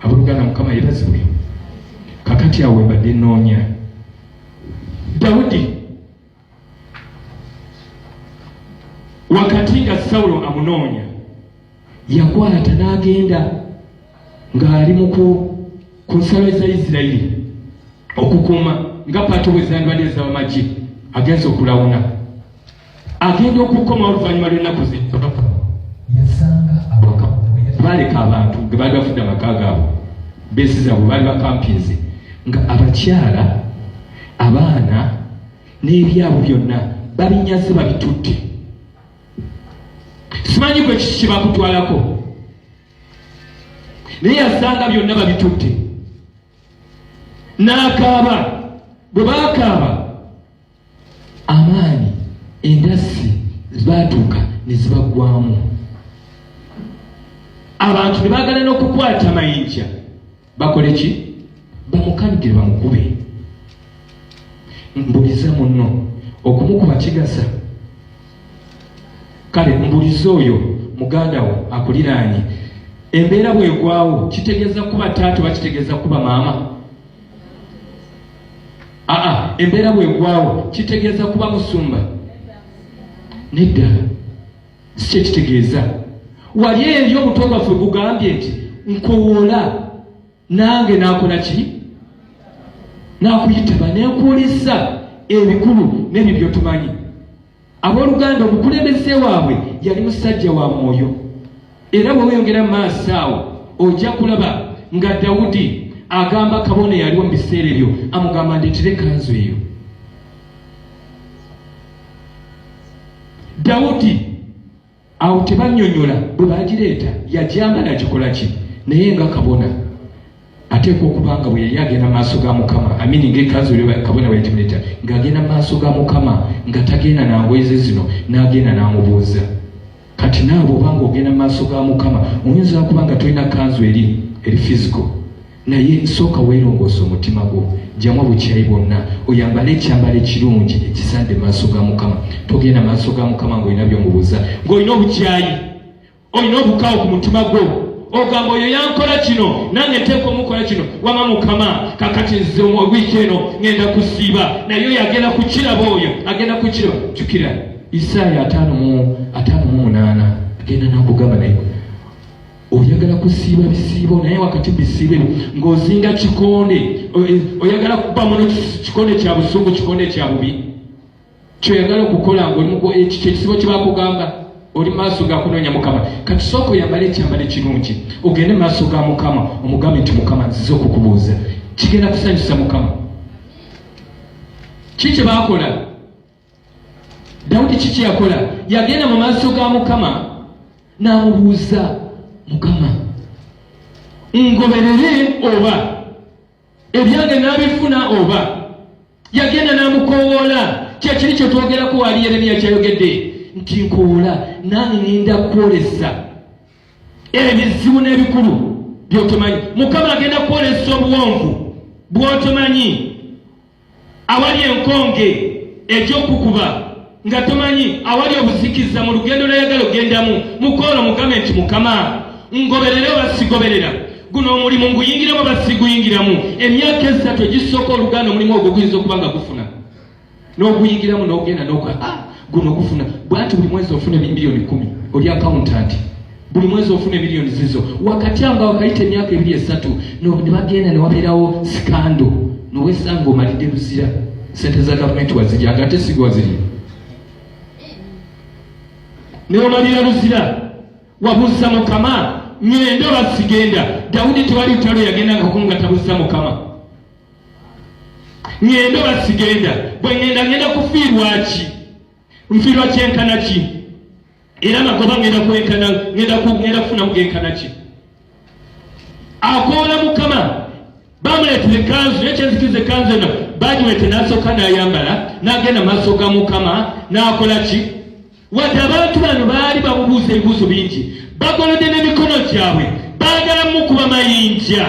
Abooluganda Mukama yebazibwe. Kakati awo ebadde nnoonya Dawudi wakati nga Sawulo amunoonya yakwata n'agenda ng'ali mu ku nsalo za Isirayiri okukuuma nga paati wezandwadde z'amagye agenza okulawuna agenda okukoma oluvannyuma lw'ennaku zino yasanga awaka baaleka abantu ge baali bafudde amaka gaabwe beesizabwe baali bakampinze nga abakyala abaana n'ebyabo byonna babinyaze babitutte simanyi kwe kiki bakutwalako naye yasanga byonna babitutte n'akaaba bwe bakaaba amaanyi endasi zibaatuuka ne zibaggwamu abantu ne baagala n'okukwata mayinja bakole ki bamukanugire bamukube mbuliza muno okumukuba kigasa kale mbuliza oyo muganda wo akuliraanye embeera bwegwawo kitegeeza kuba taata oba kitegeeza kuba maama aa embeera bwegwawo kitegeeza kuba musumba nedda si kyekitegeeza wali eri omutwe gwaffe gugambye nti nkowoola nange nakola ki nakuyitaba nenkuwulizza ebikulu nebyo byotumanyi abooluganda omukulembeze waabwe yali musajja wa mwoyo era bwe weyongera mu maaso awo ojja kulaba nga dawudi agamba kabona eyaliwo mu biseera ebyo amugamba ndeetera ekanzu eyo dawudi awo tebanyonyola bwe bagireeta yagyama nagikola ki naye nga kabona ateekwa okuba nga bwe yali agenda mu maaso ga mukama amini ngaekanzu kabona bwe yagimuleeta ng'agenda mu maaso ga mukama nga tagenda nangoyeze zino n'agenda n'amubuuza kati naawe obanga ogenda mu maaso ga mukama oyinza kuba nga tolina kanzu eri eri fisico naye sooka weerongoosa omutima gwo jjamu obukyayi bwonna oyambale ekyambalo ekirungi ekisande maaso ga mukama togenda maaso ga mukama ng'olina byomubuuza ng'olina obukyayi olina obukaawo ku mutima gwo ogamba oyo yankola kino nange nteeka omukola kino wama mukama kakati nze wiiki eno ngenda kusiiba naye oyo agenda kukiraba oyo agenda kukiraba jukira isaaya ataano mu ataano mu munaana agenda nakugamba naye oyagala kusiiba bisiibo naye wakati bisiibe ng'ozinga kikonde e, oyagala kuba muno kikonde kya busungu kikonde kya bubi kyoyagala okukola ngaolimuku ekikyo ekisibo kyebakugamba oli maaso gakunoonya mukama kati sooka oyambala ekyambala ekirungi ogende maaso ga mukama omugambe nti mukama nzize okukubuuza kigenda kusanyusa mukama ki kyebakola dawudi kiki yakola yagenda mu maaso ga mukama n'amubuuza mukama ngoberere oba ebyange n'abifuna oba yagenda n'amukowoola kyekiri kye twogerako waali yeremiya kyayogedde nti nkowoola nange ninda kwolesa ebizibu n'ebikulu byotomanyi mukama agenda kwolesa obuwonvu bwotomanyi awali enkonge egy'okukuba nga tomanyi awali obuzikiza mu lugendo lweyagala ogendamu mukolo mugambe nti mukama ngoberere oba sigoberera guno omulimu nguyingiramu oba siguyingiramu emyaka esatu egisooka oluganda omulimu ogwo guyinza okuba nga gufuna n'oguyingiramu n'ogenda noka ah, guno gufuna bwati buli mwezi ofuna miliyoni kumi oli akawuntanti buli mwezi ofuna emiliyoni zizo wakati amba wakayita emyaka ebiri esatu nebagenda newabeerawo sikando nowesanga omalidde luzira sente za gavumenti wazirya nga ate siga wazirya newamalira luzira wabuuza mukama ngenda oba sigenda dawudi tewali lutalo yagenda ngakunga tabuuza mukama ngenda oba sigenda bwe ngenda ngenda kufiirwaki nfiirwa kyenkana ki era magoba ngenda kwenkana ngenda kugenda kufunamu genkana ki akoola mukama bamuleetera ekanzu naye kyenzikiza ekanzu eno bagiwete nasooka nayambala nagenda maaso ga mukama nakola ki wadde abantu bano baali bamubuuza ebibuuzo bingi bagolode n'emikono gyabwe baagala mukuba mayinja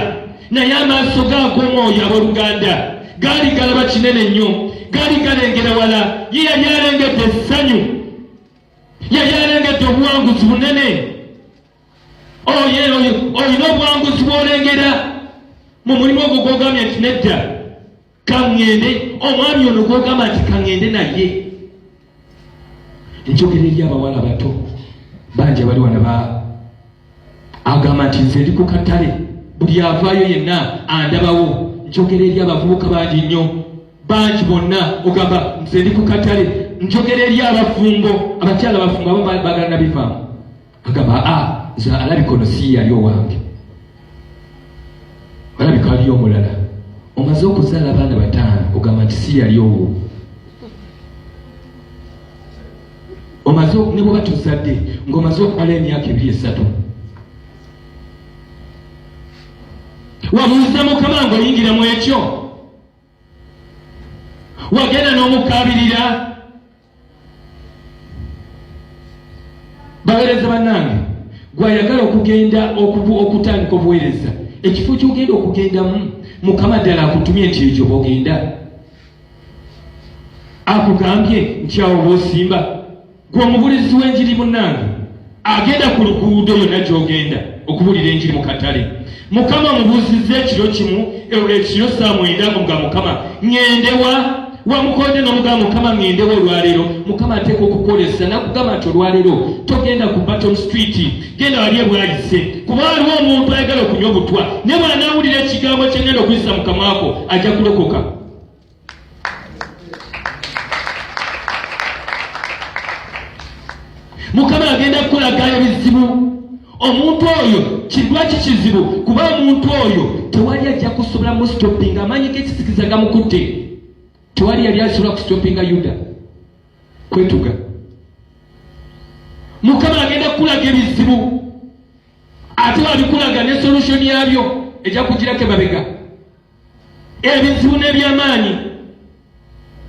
naye amaaso gaag'omwoyo abooluganda gaali galaba kinene nnyo gaali galengera wala ye yali alengedde essanyu yali alengedde obuwanguzi bunene oyo oyo olina obuwanguzi bwolengera mu mulimu ogwo gwogambye nti nedda kaŋŋende omwami ono gwogamba nti kaŋŋende naye enjogera eri abawala bato bangi abali wana agamba nti nze ndi ku katale buli avaayo yenna andabawo njogera eri abavubuka bangi nnyo bangi bonna ogamba nze ndi ku katale njogera eri abafumbo abakyala abafumbo abo bagala nabivaamu agamba a ah, nze alabika ono si yali owange alabika aliyo omulala omaze okuzaala abaana bataano ogamba nti si yali owo omaze ne bwoba tuzadde ng'omaze okumala emyaka ebiri esatu wabuuza mukama ng'oyingira mu ekyo wagenda n'omukaabirira baweereza bannange gwayagala okugenda okutandika obuweereza ekifo kyogenda okugendamu mukama ddala akutumye nti ekyo bogenda akugambye nti awo bwosimba gwe omubulizi w'enjiri munnange agenda ku luguudo yonna gy'ogenda okubulira enjiri mu katale mukama mubuuzizza ekiro kimu ekiro saa mwenda nga mukama ŋendewa wamukonde n'omugamba mukama ŋendewa olwaleero mukama ateeka okukolesa nakugamba nti olwaleero togenda ku baton street genda wali ebwayise kuba waliwo omuntu ayagala okunywa obutwa naye bwanaawulira ekigambo kyengenda okuyisa mukamwako ajja kulokoka mukama agenda kukulaga ebizibu omuntu oyo kidwaki kizibu kuba omuntu oyo tewali ajja kusobola mustopinga amaanyi gekisikiza gamukutte tewali yali asobola kustopinga yuda kwetuga mukama agenda kukulaga ebizibu ate wabikulaga ne solution yabyo ejja kugirako emabega ebizibu n'ebyamaanyi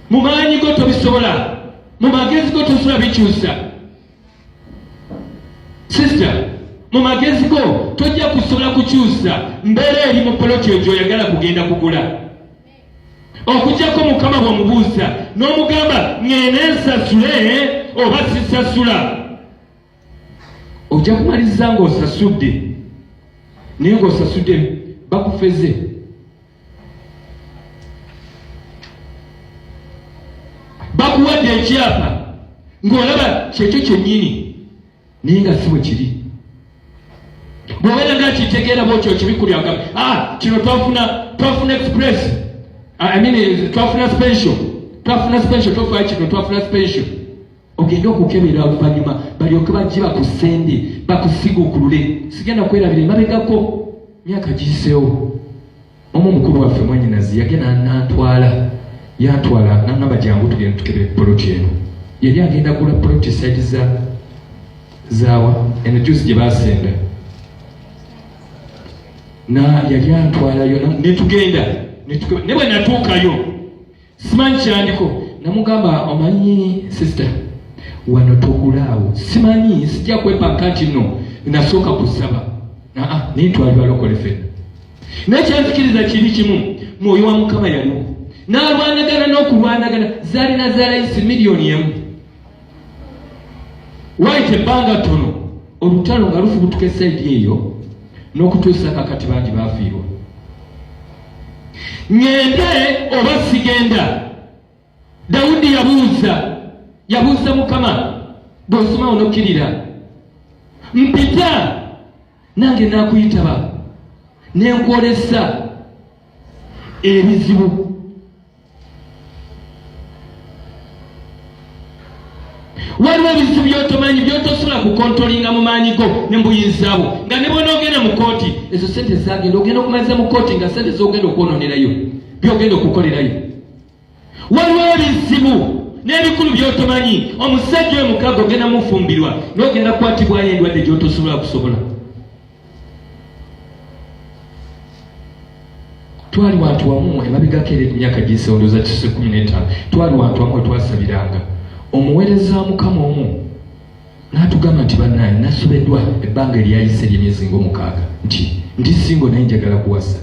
mu maanyi go tobisobola mu magezi go tosobola bikyusa sisita mu magezi go tojja kusobola kukyusa mbeera eri mu poloti eyo gyoyagala kugenda kugula okujjako mukama bwamubuuza n'omugamba ng'ene nsasule oba sisasula ojja kumaliza ng'osasudde naye ng'osasudde bakufeze bakuwadde ekyapa ng'olaba kyekyo kyennyini naye nga si bwe kiri bwobeera nga kitegeera bwotyo kibikulyaga ah, kino twafuna twafuna express ah, I mean, twafuna special twafuna special tofaa kino twafuna special ogende okukebera oluvannyuma balyoke bajje bakusende bakusiguukulule sigenda kwerabira emabegako myaka giyiseewo omu omukulu waffe mwanyinazi yagenda nantwala yantwala nangamba jangu tugenda tukebere poloti eno yali agenda gula poloti saidi za zawa eno jusi gye basenda na yali antwalayo netugenda ne bwe natuukayo simanyi kyandiko namugamba omanyi sister wano togulaawo simanyi sijja kwepanka nti no nasooka kusaba aa naye twali balokole fena naye kyanzikiriza kiri kimu mwoyo wa mukama yaliwo n'alwanagana n'okulwanagana zaalina zalayisi miliyoni emu wayita ebbanga ttono olutalo nga lufubutuka esaidi eyo n'okutuusa kakati bangi baafiirwa ngende oba sigenda dawudi yabuuza yabuuza mukama bw'osoma onokkirira mpita nange naakuyitaba nenkwolesa ebizibu waliwo ebizibu byotomanyi byotosobola kukontolinga mu maanyi go ne mbuyinzabo nga ne bwonaogenda mu kooti ezo sente zagenda ogenda okumaliza mu kooti nga sente zogenda okwononerayo byogenda okukolerayo waliwo ebizibu n'ebikulu byotomanyi omusajja oyo mukaga ogenda mufumbirwa nogenda kukwatibwayo endwadde gyotosobola kusobola twali wantu wamu emabegako era emyaka gisewoloza kise kumi n'etaano twali wantu wamu wetwasabiranga omuweereza mukama omu n'atugamba nti banaye nasobeddwa ebbanga eryayise ery'emyezi ng'omukaaga nti ndi singo naye njagala kuwasa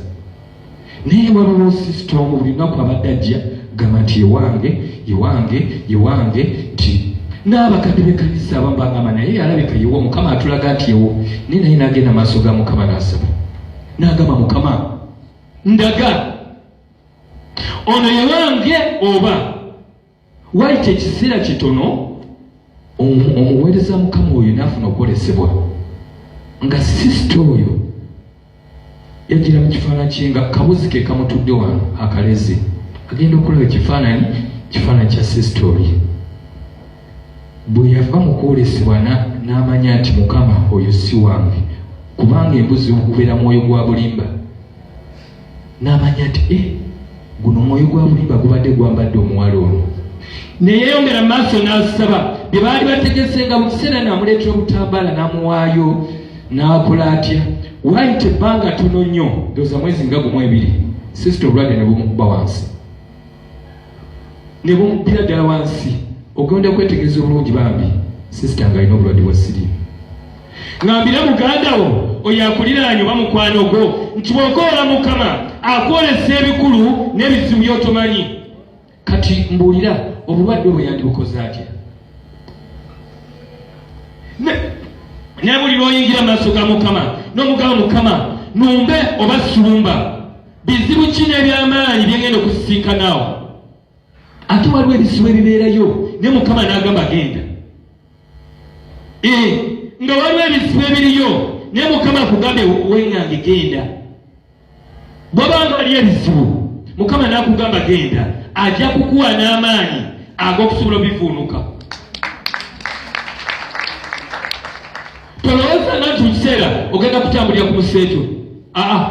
naye waliwo sisita omu buli lunaku abadde ajja gamba nti yewange yewange yewange nti n'abakadde bekanisa abamu bagamba naye yalabika yewo mukama atulaga nti yewo naye naye nagenda maaso ga mukama nasaba nagamba mukama ndaga ono yewange oba wayita ekiseera kitono omuweereza mukama oyo naafuna okwolesebwa nga sisita oyo yajira mu kifaananyi kye nga kabuzi ke kamutudde wano akalezi agenda okulaba ekifaananyi kifaananyi kya sisita oyo bwe yava mu kwolesebwa n'amanya nti mukama oyo si wange kubanga embuzi okubeera mwoyo gwa bulimba n'amanya nti e guno omwoyo gwa mulimba gubadde gwambadde omuwala ono neyeyongera mu maaso n'asaba bye baali bategese nga mu kiseera naamuleetera obutambala n'amuwaayo n'akola atya waayita ebbanga tono nnyo ndoza mwezi nga gumu ebiri sisita obulwadde ne bumukuba wansi ne bumubbira ddala wansi ogenda okwetegereza obulungi bambi sisita nga alina obulwadde bwa siriimu ng'ambira muganda wo oyo akuliraanye oba mukwano gwo nti bw'okoola mukama akwolesa ebikulu n'ebizibu by'otomanyi kati mbuulira obulwadde obwo yandibukoze atya naye buli lwoyingira maaso ga mukama n'omugaba mukama numbe oba sulumba Bizibu ki n'eby'amaanyi bye ngenda okusisinkanaawo? Ate waliwo ebizibu ebibeerayo ne Mukama n'agamba genda. Ee, nga waliwo ebizibu ebiriyo ne Mukama akugambe weng'ange genda. Bwaba nga waliyo ebizibu Mukama n'akugamba genda, ajja kukuwa n'amaanyi ag'okusobola obivuunuka. Tolowooza nga nti mu kiseera ogenda kutambulira ku museeto. Aa.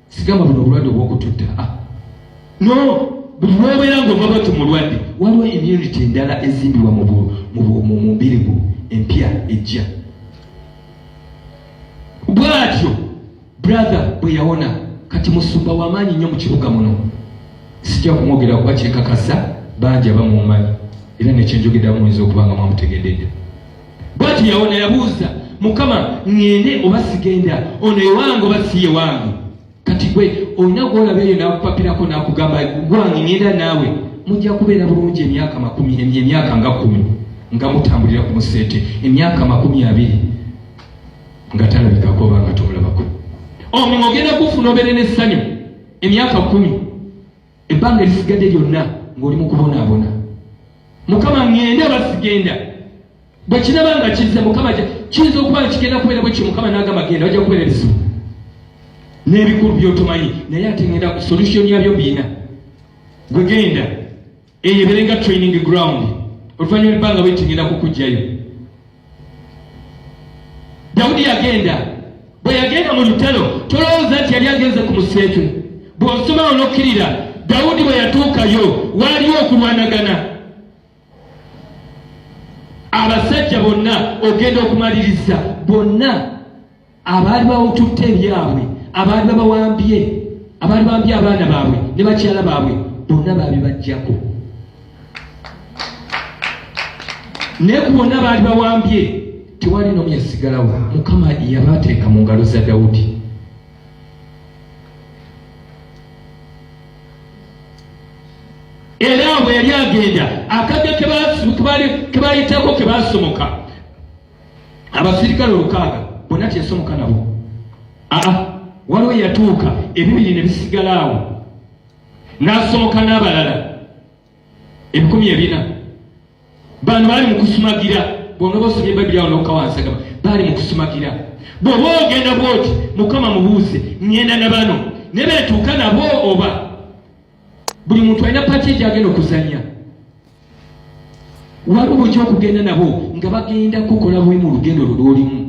sigamba buno obulwadde obwokututta ah, no buli lwobeera ngaova bati mulwadde waliwo immunity endala ezimbibwa mu mubiri gwo empya ejja bwatyo brother bwe yawona kati musumba wamaanyi nnyo mu kibuga muno sijja kumwogera kuba kyekakasa bangi abamumanyi era nekyenjogedamu oyinza okuba nga mwamutegededde bwati yawona yabuuza mukama ŋŋende oba sigenda ono ewange oba si yewange kati gwe olina gwolaba eyo n'akupapirako n'akugamba gwange ŋenda naawe mujja kubeera bulungi emyaka makumi emyaka nga kumi nga mutambulira ku museete emyaka makumi abiri nga talabikako oba nga tomulabako omulimu ogenda kufuna obeere n'essanyu emyaka kumi ebbanga erisigadde lyonna ng'oli mu kubonaabona mukama ŋŋende oba sigenda bwe kiraba nga kizze mukama kiyinza okuba nga kigenda kubeera bwekyo mukama n'agamba genda ojja kubeera ebizibu n'ebikulu byotomanyi naye ate ŋenda solution yabyo biina gwe genda eyo ebeere nga training ground oluvannyuma ebbanga bwekigenda kukugjayo dawudi yagenda bwe yagenda mu lutalo tolowooza nti yali agenze ku museetu bw'osoma onokkirira dawudi bwe yatuukayo waaliwo okulwanagana abasajja bonna ogenda okumaliriza bonna abaali bawututte ebyabwe abaali babawambye abaali bambye abaana baabwe ne bakyala baabwe bonna baabibajjako naye ku bonna baali bawambye tewali nomu yasigalawo mukama yabateeka mu ngalo za dawudi era bwe yali agenda akadde kebaali kebaayitako kebasomoka abasirikale olukaaga bonna teyasomoka nabo aa waliwo yatuuka ebibiri ne bisigala awo n'asomoka n'abalala ebikumi ebina bano baali mu kusumagira bwonoba osomye babiri awo nokawansagama baali mu kusumagira bwoba ogenda bwoti mukama mubuuze ŋenda na bano ne betuuka nabo oba buli muntu alina pati egyo agenda okuzanya waliwo bwekya okugenda nabo nga bagenda kukola buli mu lugendo lwo lwolimu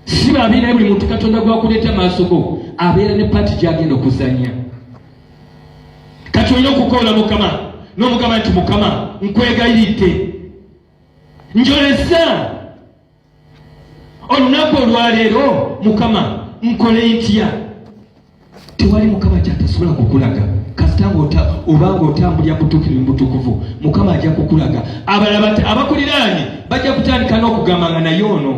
si babi naye buli muntu katonda gwakuleeta maaso go abeera ne pati gyagenda okuzanya kati olina okukoola mukama n'omugamba nti mukama nkwegayiridde njolesa olunaku olwaleero mukama nkole ntya tewali mukama kyatasobola kukulaga kasita obanga otambulira mutukirivu mutukuvu mukama ajja kukulaga abalaba abakuliraanye bajja kutandika n'okugamba nga naye ono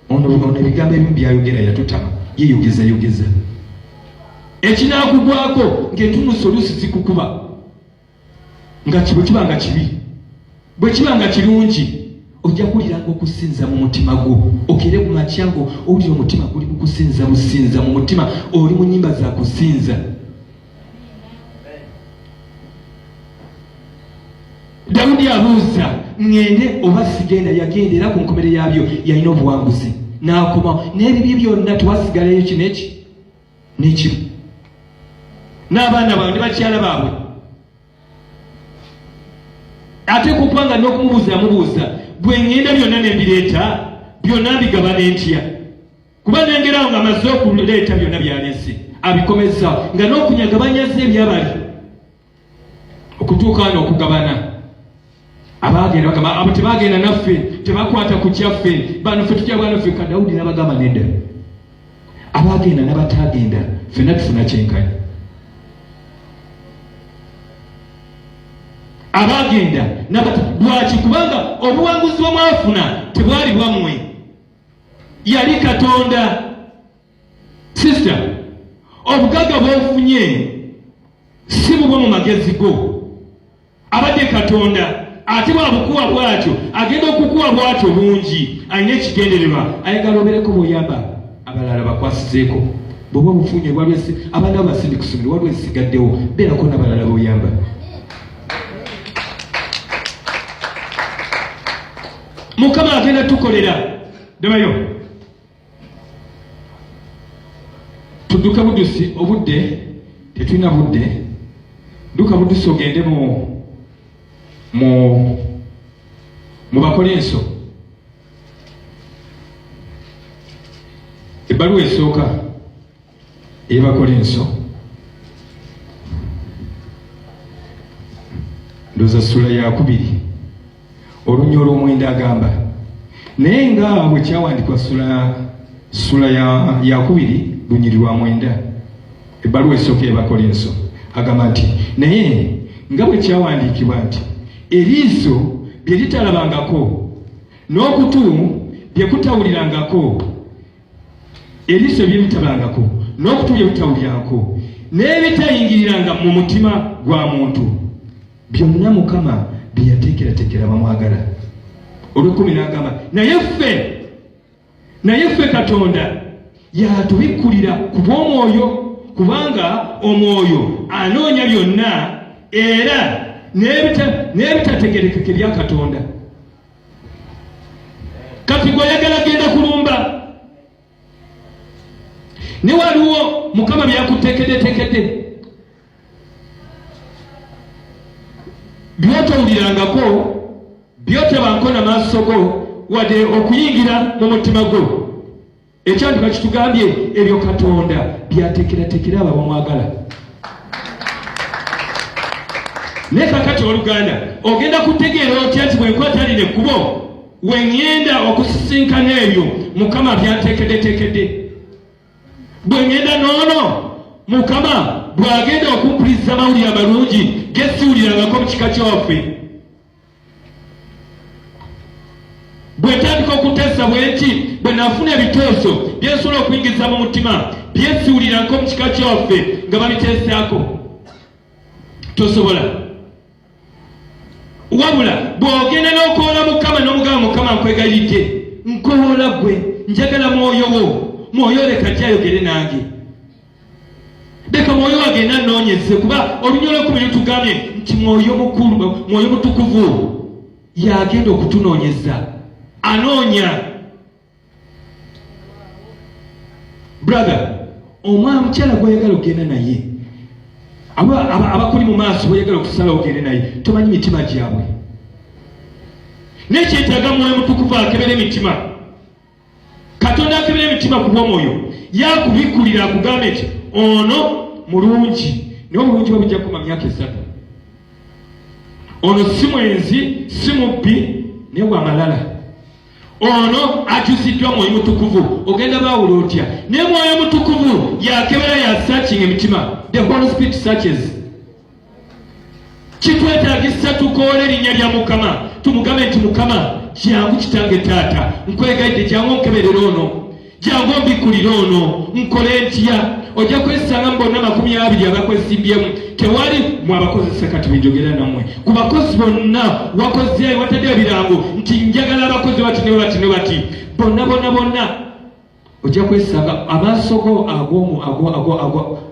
ono ono ebigambo ebimu byayogera yatutama yeyogeza yogeza ekinakugwako ngaetunusa olusi zikukuba nga kibu kiba nga kibi bwe kiba nga kirungi ojja kuwuliranga okusinza mu mutima gwo okere ku makya ngo owulira omutima guli mu kusinza businza mu mutima oli mu nyimba za kusinza dawudi abuuza ŋŋende oba sigenda yagenda era ku nkomere yaabyo yalina obuwanguzi n'akomawo n'ebibye byonna tewasigalayo kino eki nekimu n'abaana bawe ne bakyala baabwe ate kukuba nga n'okumubuuza amubuuza gwe ngenda byonna ne mbireeta byonna mbigaba ne ntya kuba nengerawo nga amaze okuleeta byonna byalese abikomezzawo nga n'okunyagabanyaza ebyabali okutuuka wano okugabana abaagenda bagamba abo tebaagenda naffe tebakwata ku kyaffe bano fe tujja bwana ffe kadawudi nabagamba nedda abaagenda nabatagenda fenna tufuna kyenkanyi abaagenda nabata lwaki kubanga obuwanguzi bwemwafuna tebwali bwammwe yali katonda sister obugagga bwofunye si bubwo mu magezi go abadde katonda ate bwabukuwa bwatyo agenda okukuwa bwatyo bungi alina ekigendererwa ayagala obereko bwoyamba abalala bakwasizeeko bwoba obufunye bwalwesi abaana bo basindi kusomero waliwo ezisigaddewo beerako nabalala boyamba mukama agenda tukolera dabayo tudduke budusi obudde tetulina budde dduka budusi ogende mu mu mu bakolinso ebbaluwa esooka Ebakolinso ndoza sula yakubiri olunya olwomwenda agamba naye nga bwe kyawandikwa sula sula yakubiri ya lunyiri lwa mwenda ebbaluwa esooka ebakolinso agamba nti naye nga bwe kyawandiikibwa nti eriiso bye litalabangako n'okutu bye kutawulirangako ebiso ebyebitabangako n'okutu byebitawulyanko n'ebitayingiriranga mu mutima gwa muntu byonna mukama byeyateekerateekera bamwagala olwekumi n'agamba naye ffe naye ffe katonda yatubikkulira ku bw'omwoyo kubanga omwoyo anoonya byonna era n'ebitategerekeke bya katonda kati gweyagala genda kulumba ne waliwo mukama byakutekedetekede byotowulirangako byotabanko na maaso go wadde okuyingira mu mutima gwo ekyandi bakitugambye ebyo katonda byatekeratekera abo bamwagala naye kakati oluganda ogenda kutegeera otya nti bwenkwata lino ekkubo weŋŋenda okusisinkana ebyo mukama byanteekeddeteekedde bwe ŋŋenda noono mukama bw'agenda okumpuliza amawulire amalungi gesiwulirangako mu kika kyawaffe bwetandika okutesa bwenti bwe nafuna ebiteeso byensobola okuyingiza mu mutima byesiwulirako mu kika kyaffe nga babiteesaako tosobola wabula bw'ogenda n'okoola mukama n'omugaba mukama nkwegayidde nkoola gwe njagala mwoyo wo mwoyo leka gyayogere nange leka mwoyo wagenda anoonyeze kuba olunya olwekumi lutugambye nti mwoyo mukulu mwoyo mutukuvu yagenda okutunoonyeza anoonya brother omwana mukyala gwayagala okugenda naye abakuli mu maaso boyagala okusala ogende naye tomanyi mitima gyabwe nekyetaga mwoyo mutukuvu akebera emitima katonda akebera emitima ku bwomwoyo yakubikkulira akugamba nti ono mulungi naye obulungi bwe bujja kukoma myaka esatu ono si mwenzi si mubbi naye wamalala ono akyusiddwa mwoyo mutukuvu ogenda baawula otya naye mwoyo mutukuvu yakebera ya searching emitima the holy spirit searches kitwetagisa tukoole erinnya lya mukama tumugambe nti mukama kyangu kitange taata nkwegaidde kyangu onkeberera ono kyangu ombikulire ono nkole ntya ojja kwesanga mu bonna makumi abiri abakwesimbyemu tewali mwabakozesa kati benjogera namwe ku bakozi bonna wakoze watadde ebirango nti njagala abakozi bati ne bati ne bati bonna bonna bonna ojja kwesanga amaaso go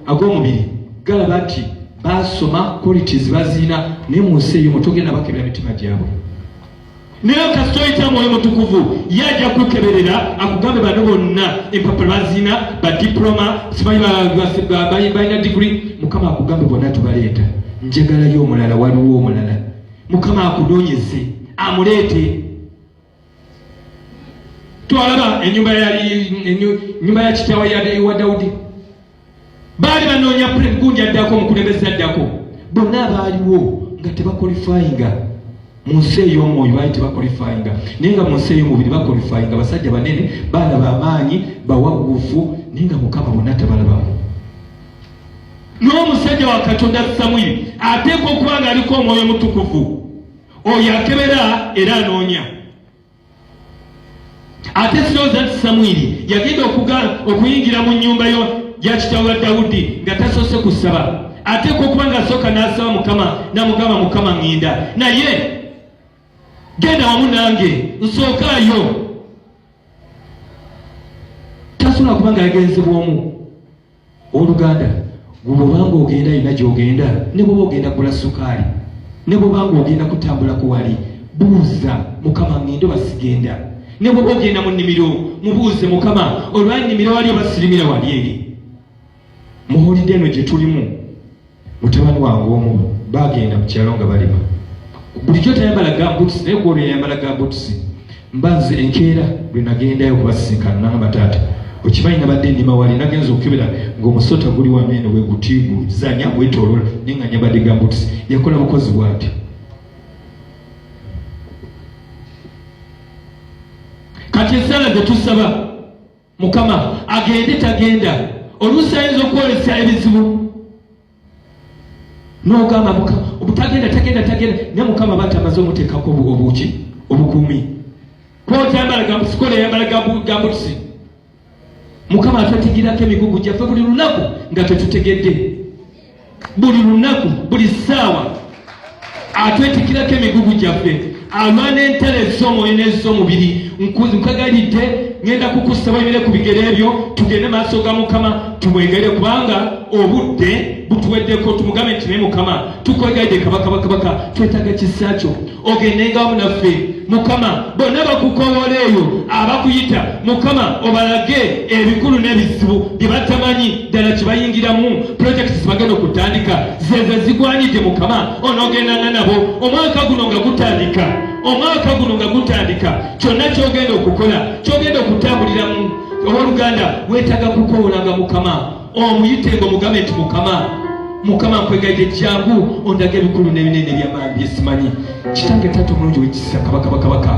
ag'omubiri galaba nti basoma qualities baziina naye mu nsi eyo mutugenda bakebera mitima gyabwe naye kasita oyita mwoyo mutukuvu ye ajja kukeberera akugambe bano bonna empapula baziina badiploma sibalina digiri mukama akugambe bonna tubaleeta njagalayo omulala waliwo omulala mukama akunonyeze amuleete twalaba enyumba yanyumba ya kitaawe yawa dawudi baali banoonya gundi addako omukulembeze addako bonna abaaliwo nga tebakolifayinga mu nsi ey'omwoyo baali tebakolifayinga naye nga mu nsi ey'omubiri bakolifayinga basajja banene baana bamaanyi bawagufu naye nga mukama bonna tabalabamu n'omusajja wa katonda samwiri ateekwa okuba ng'aliko omwoyo omutukuvu oyo akebera era anoonya ate sirowooza nti samwiri yagenda okuyingira mu nnyumba yo ya kitaawa dawudi nga tasoose kusaba ate kwokuba nga asooka n'asaba mukama namugamba mukama ŋŋenda naye genda wamu nange nsookaayo tasobola kuba nga yagenze bwomu oluganda gwobanga ogenda yina gyogenda ne bwoba ogenda gula sukaali ne bwobanga ogenda kutambula kuwali buuza mukama ngende basigenda ne bwoba ogenda mu nnimiro mubuuze mukama olwannimiro wali obasirimira wali eri muhulidde eno gye tulimu mutabani wange omu bagenda ku kyalo nga balima bulijjo tayambala gambuts naye kuolwo yayambala gambuts mba nze enkeera lwe nagendayo kubasisinkana nangamba taata okimanyi nabadde nima wali nagenza okukebera ngaomusota guli wameeno wegutiigu zanya gwetolola naye nga nyambadde gambuts yakola bukozi bwati kati esaala zetusaba mukama agende tagenda oluusi ayinza okwolesa ebizibu nogamba mukama obutagenda tagenda tagenda naye mukama aba tamaze omuteekako obuki obukuumi kotambala gambusikola eyambala gambutusi mukama atwetigirako emigugu gyaffe buli lunaku nga tetutegedde buli lunaku buli ssaawa atwetikirako emigugu gyaffe alwana entalo ez'omwoyo n'ez'omubiri nkagalidde ŋenda kukussa webire ku bigere ebyo tugende maaso ga mukama tumwegere kubanga obudde butuweddeko tumugambe nti naye mukama tukwegaidde kabaka bakabaka twetaga kisa kyo ogendengamu naffe mukama bonna bakukowola eyo abakuyita mukama obalage ebikulu n'ebizibu bye batamanyi ddala kibayingiramu pulojekiti zibagenda okutandika zeze zigwanidde mukama onoogendanga nabo omwaka guno nga gutandika omwaka guno nga gutandika kyonna kyogenda okukola kyogenda okutambuliramu owooluganda weetaga kukowolanga mukama omuyite nga omugambe nti mukama mukama nkwegayide jangu ondaga ebikulu nebinene ebyamaani byesimanyi kitange taata omulungi wekisa kabakabakabaka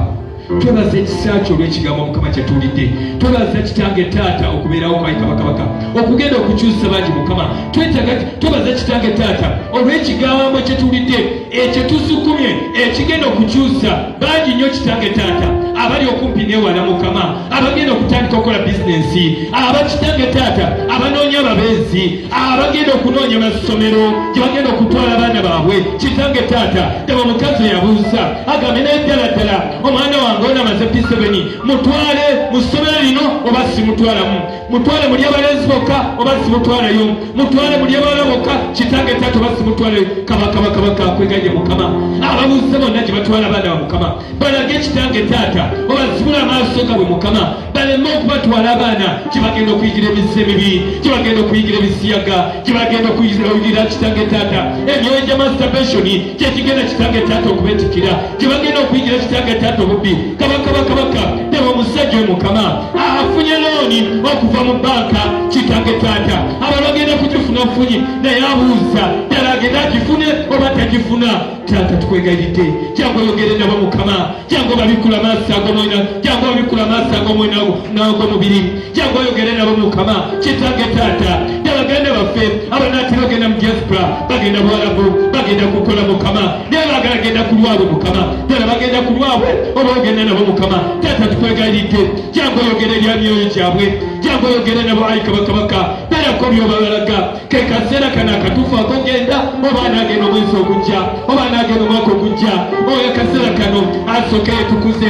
twebaza ekisa kyo olwekigambo mukama kyetuwulidde twebaza kitange taata okubeerawo kwai kabakabaka okugenda okukyusa bangi mukama twetaga twebaza kitange taata olwekigambo kyetuwulidde ekyo tusukumye ekigenda okukyusa bangi nnyo kitange taata abali okumpi newala mukama abagenda okutandika okukola bizinensi abakitange taata abanoonya ababeezi abagenda okunoonya masomero gyebagenda okutwala abaana baabwe kitange taata daba omukazi oyabuuza agambe naye ddala ddala omwana wange onamaze pisebeni mutwale mu ssomero lino oba simutwalamu mutwale muli abalenzi bokka oba simutwaleyo mutwale muli abawala bokka kitange tata oba simutwaleyo kabakabakabaka akweganye mukama ababuuze bonna gye batwala abaana ba mukama balage kitange taata obazibula amaaso gabwe mukama baleme okubatwala abaana gye bagenda okuyigira emizzi emibi gye bagenda okuyigira ebisiyaga gye bagenda okuyigira kitange taata emyoyo gya masturbation kyekigenda kitange taata okubetikira gye bagenda okuyigira kitaaga taata obubbi kabaka bakabaka teba omusajja oyo mukama afunye looni okuva mu banka kitange taata abantu bagenda kugifuna funyi naye abuuza ddala agenda agifune oba tagifuna taata tukwegayiridde jangu oyogere nabo mukama jangu babikula maaso agomwena jangu babikula maaso agomwena n'agomubiri jangu oyogere nabo mukama kitange taata yabaganda baffe abanaatera ogenda mu diaspora bagenda buwalabu bagenda kukola mukama naye bagala genda ku lwabwe mukama ddala bagenda ku lwabwe oba ogenda nabo mukama taata tukwegayiridde jangu oyogere erya myoyo gyabwe jangu oyogere nabo ayi kabakabaka berako byobabalaga kekaseera kana akatuufu akogenda oba anaagenda omwezi ogujja oba anaagenda omwaka ogujja oyo akaseera kano asooke yetukuze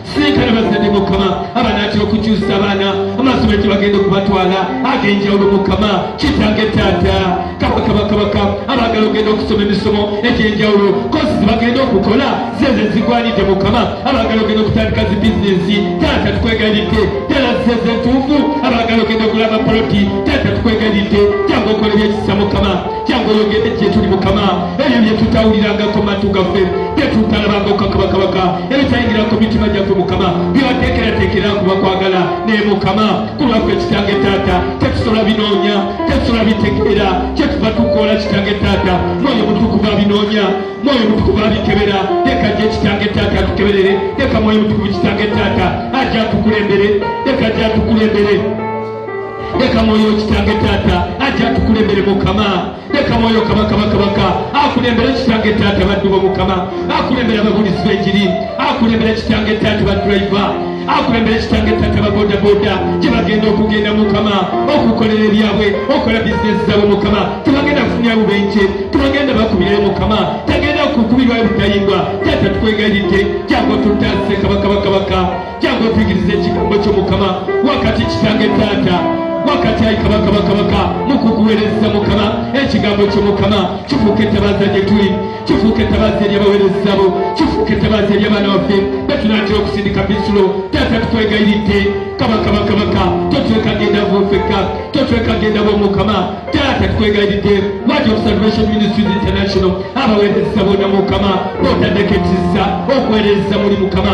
sentana bazadde mukama abanaatera okukyusa abaana amasomero gye bagenda okubatwala ag'enjawulo mukama kitange taata kabakabakabaka abaagala ogenda okusoma emisomo egy'enjawulo kosi zebagenda okukola zeze zigwanidde mukama abaagala ogenda okutandika zi bizinesi taata tukwegalidde ddala zeze entuufu abaagala ogenda okulaba poloti taata tukwegalidde jangu okola ebyekisa mukama jangu oyogere gye tuli mukama ebyo bye tutawulirangako matu gaffe bye tutalabangako kabakabaka ebitayingirako mitima gyaffe mukama byewateekerateekera kuba kwagala naye mukama ku lwaffe kitange taata tetusobola binoonya tetusobola bitegeera kyetuva tukoola kitange taata mwoyo mutukuvu abinoonya mwoyo mutukuvu abikebera leka gye kitange taata atukeberere leka mwoyo mutukuvu kitange taata ajja atukulembere leka ajja atukulembere leka mwoyo kitange taata ajja atukulembere mukama leka mwoyo kabaka bakabaka akulembere kitange taata baddu bo mukama akulembere ababulizi b'enjiri akulembere kitange taata badriva akulembera ekitange ettaka babodaboda gye bagenda okugenda mukama okukolera ebyabwe okola bizinesi zaabwe mukama tebagenda kufunira bubenje tebagenda bakubirayo mukama tagenda kukubirwa ebutayimbwa taata tukwegayiridde jangu tutase kabakabakabaka jangu otuyigiriza ekigambo kyo mukama wakati kitange taata wakati ayi kabaka bakabaka mukukuwereza mukama ekigambo kyo mukama kifuuka etabaaza gye tuli kifuuka etabaaza eri abawereza bo kifuuka etabaaza eri abaana baffe betunatera okusindika bisulo taata tukwegayiridde kabaka bakabaka totwekagenda vufeka totwekagenda bo mukama taata tukwegayiridde wadi of salvation ministries international abawereza bona mukama botaddeko ekisa okuwereza muli mukama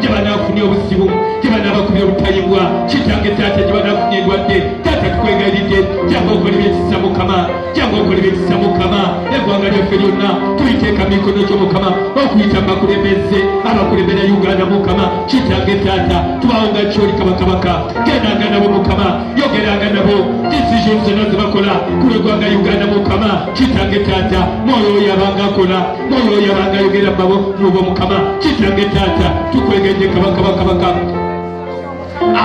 gye banaafunye obuzibu gye banaabakubye obutayimbwa kitange taata gye banaafunye endwadde taata tukwegayiridde janga okola ebyekisa mukama janga okola ebyekisa mukama eggwanga lyaffe lyonna tuliteeka mu mikono gyo mukama okuyita mu bakulembeze abakulembera uganda mukama kitange taata tubawo nga kyoli kabakabaka genanga nabo mukama yogeranga nabo decision zonna zebakola ku lwegwanga uganda mukama kitange taata mwoyo oyo abanga akola Paulo yabanga ayogera babo mubo mukama kitange taata tukwegenje kabaka bakabaka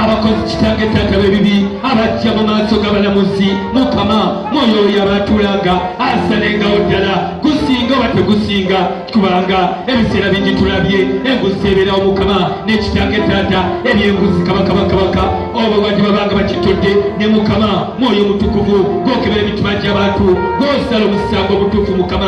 abakozi kitange taata bebibi abajja mu maaso g'abalamuzi mukama mwoyo oyo abaatulanga asalengawo ddala gusinga oba tegusinga kubanga ebiseera bingi tulabye enguzi ebeerawo mukama n'ekitange taata ebyenguzi kabakabakabaka obo bati babanga bakitodde ne mukama mwoyo omutukuvu gwokebera emitima gy'abantu gwosala omusango omutuufu mukama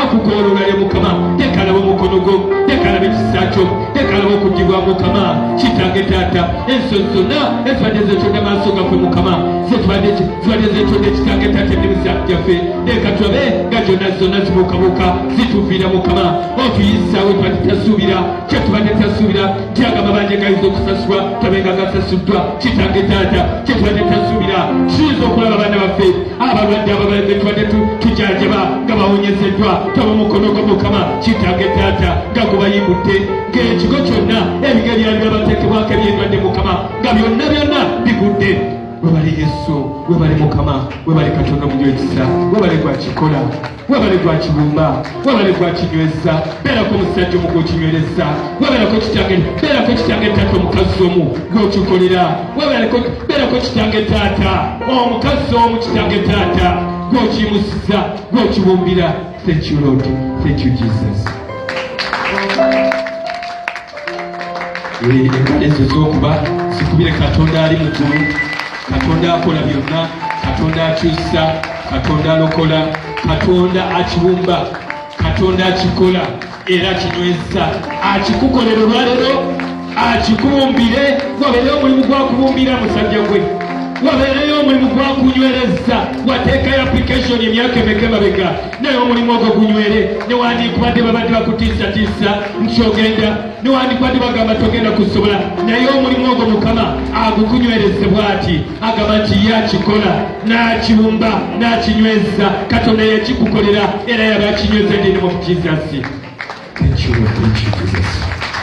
akukooloola ne mukama tekalaba omukono gwo tekalaba ekisa kyo tekalaba okugibwa mukama kitange taata enso zonna ezibadde zetonda maaso gaffe mukama zibadde zetonda ekitange taata emirisa gyaffe leka tulabe nga gyonna zonna zibuukabuuka zituviira mukama otuyisaawo tubadde tasuubira kye tubadde tasuubira kyaga mabanja gayinza okusasulwa tabenga gasasuddwa kitange taata kye tubadde tasuubira kiyinza okulaba abaana baffe abalwadde ababaleke tubadde tujanjaba nga bawonyezeddwa taba mukono gwa mukama kitange taata nga gubayimbudde ng'ekigo kyonna ebige byali byabateekebwako ebyendwadde mukama nga byonna byonna bigudde webale yesu webale mukama webale katonda omunywa ekisa webale gwakikola webale gwa kibumba webale gwa kinyweza beerako omusajja omu gwokinywereza webereko kitange beerako kitange taata omukazi omu gwokikolera webereko beerako kitange taata omukazi omu kitange taata gwokimusiza gwokibumbira thank you lord thank you jesus ezo zokuba zikubire katonda ali mugulu katonda akola byonna katonda akyusa katonda alokola katonda akibumba katonda akikola era kinyweza akikukolera olwalero akikubumbire wabeereyo omulimu gwakubumbira musajja gwe wabeereyo omulimu gwakunywereza wateekayo application emyaka emeka emabega naye omulimu ogwo gunywere newandikubadde babadde bakutiisatiisa nti ogenda newandikubadde bagamba togenda kusobola naye omulimu ogwo mukama agukunywereze bwati agamba nti ye akikola n'akibumba n'akinyweza katonda yakikukolera era yaba akinyweza ndinemu mukizasi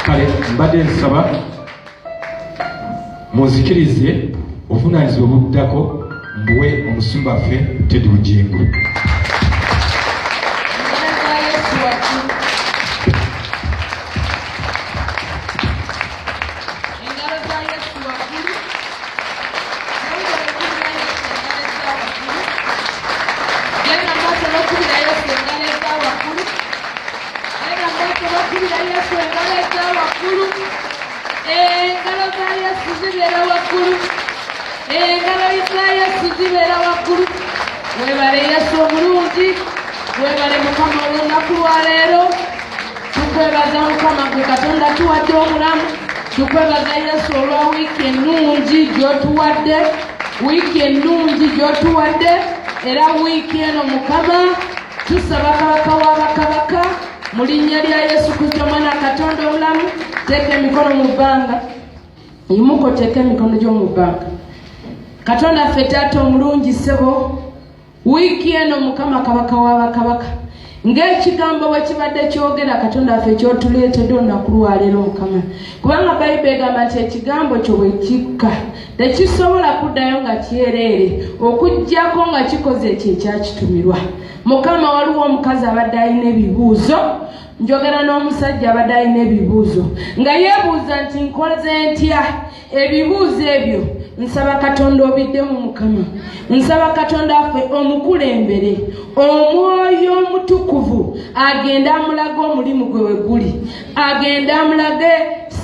kale mbadde nsaba munzikirize obuvunaanyizibwa obuddako mbuwe omusumba ffe tedi bugingo engalo za yesu zibeera waggulu engalo za yesu zibeera waggulu webale yesu omulungi webale mukama olunaku lwaleero tukwebaza mukama gwe katonda tuwadde omulamu tukwebaza yesu olwa wiiki ennungi gyotuwadde wiiki ennungi gyotuwadde era wiiki eno mukama tusaba kabaka wa bakabaka mu linnya lya yesu kristo omwana katonda omulamu teeka emikono mu bbanga imuko teeka emikono gy'omu bbanga katonda ffe taata omulungi ssebo wiiki eno mukama kabaka wa bakabaka ng'ekigambo bwe kibadde kyogera katonda waffe kyotuleetedde olunaku lwaleero mukama kubanga bayibuli egamba nti ekigambo kyo bwe kikka tekisobola kuddayo nga kyereere okuggyako nga kikoze ekyo ekyakitumirwa mukama waliwo omukazi abadde alina ebibuuzo njogera n'omusajja abadde alina ebibuuzo nga yeebuuza nti nkoze ntya ebibuuzo ebyo nsaba katonda obiddemu mukama nsaba katonda affe omukulembere omwoyo omutukuvu agende amulaga omulimu gwe weguli agende amulage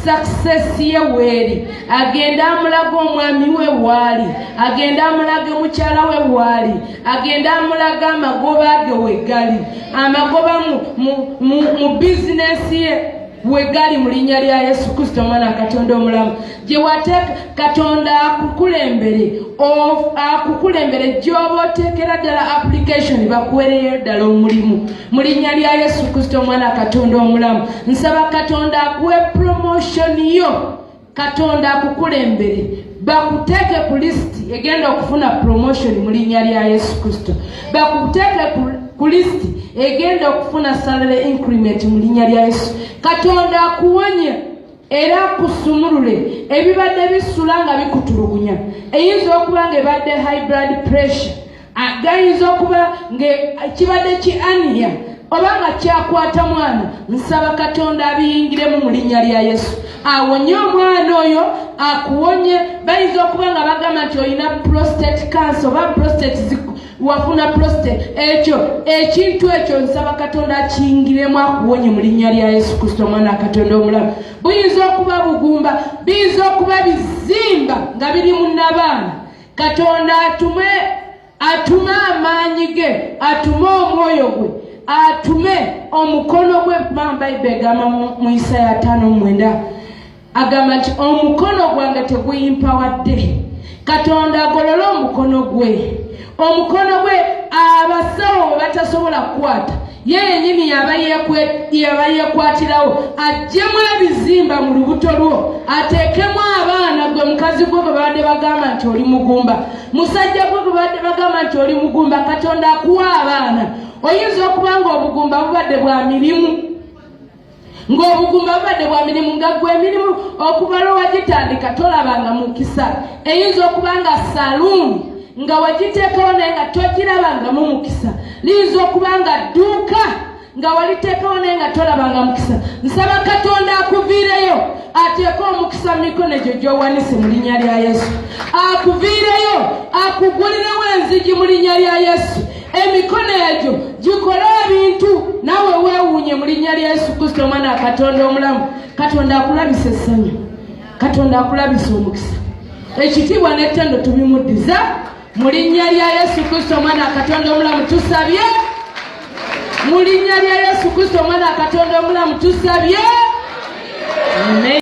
success ye weeri agende amulage omwami we waali agende amulage mukyala we waali agende amulage amagoba ge wegali amagoba mu bizinesi ye wegali mu linnya lya yesu kristo omwana katonda omulamu gyewateeka katonda akukulembere akukulembere gyoba oteekera ddala application bakuwereyo ddala omulimu mu linnya lya yesu kristo omwana katonda omulamu nsaba katonda akuwe promotion yo katonda akukulembere bakuteeke ku lisiti egenda okufuna promotion mu linnya lya yesu kristo bakuteeke ku lisiti egenda okufuna salary increment mu linnya lya yesu katonda akuwonye era kusumulule ebibadde bisula nga bikutulugunya eyinza okuba nga ebadde high blood pressure gayinza okuba nga kibadde ki ania oba nga kyakwata mwana nsaba katonda abiyingiremu mu linnya lya yesu awonye omwana oyo akuwonye bayinza okuba nga bagamba nti olina prostate cancer oba prostate wafuna prostate ekyo ekintu ekyo nsaba katonda akingiremu akuwonye mu linnya lya yesu kristo omwana wa katonda omulamu buyinza okuba bugumba biyinza okuba bizimba nga biri mu nabaana katonda atume atume amaanyi ge atume omwoyo gwe atume omukono gwe mamba ibe egamba mu isaaya tano mwenda agamba nti omukono gwange teguyimpawadde katonda agolole omukono gwe omukono gwe abasawo we batasobola kukwata ye yenyini yaba yekwatirawo ajjemu ebizimba mu lubuto lwo ateekemu abaana gwe mukazi gwe gwe babadde bagamba nti oli mugumba musajja gwe gwe babadde bagamba nti oli mugumba katonda akuwa abaana oyinza okuba nga obugumba bubadde bwa mirimu ng'obugumba bubadde bwa mirimu nga gwe emirimu okubala owagitandika tolabanga mukisa eyinza okuba nga saluuni nga wagiteekawo naye nga togirabangamu mukisa liyinza okuba nga dduuka nga waliteekawo naye nga tolabanga mukisa nsaba katonda akuviireyo ateeke omukisa mu mikono egyo gyowanise mu linnya lya yesu akuviireyo akugulirewo enzigi mu linnya lya yesu emikono egyo gikole ebintu nawe wewuunye mu linnya lya yesu kristo omwana wa katonda omulamu katonda akulabisa essanyu katonda akulabisa omukisa ekitiibwa n'ettendo tubimuddiza mu linnya lya yesu kristo omwana wa katonda omulamu tusabye mu linnya lya yesu kristo omwana wa katonda omulamu tusabye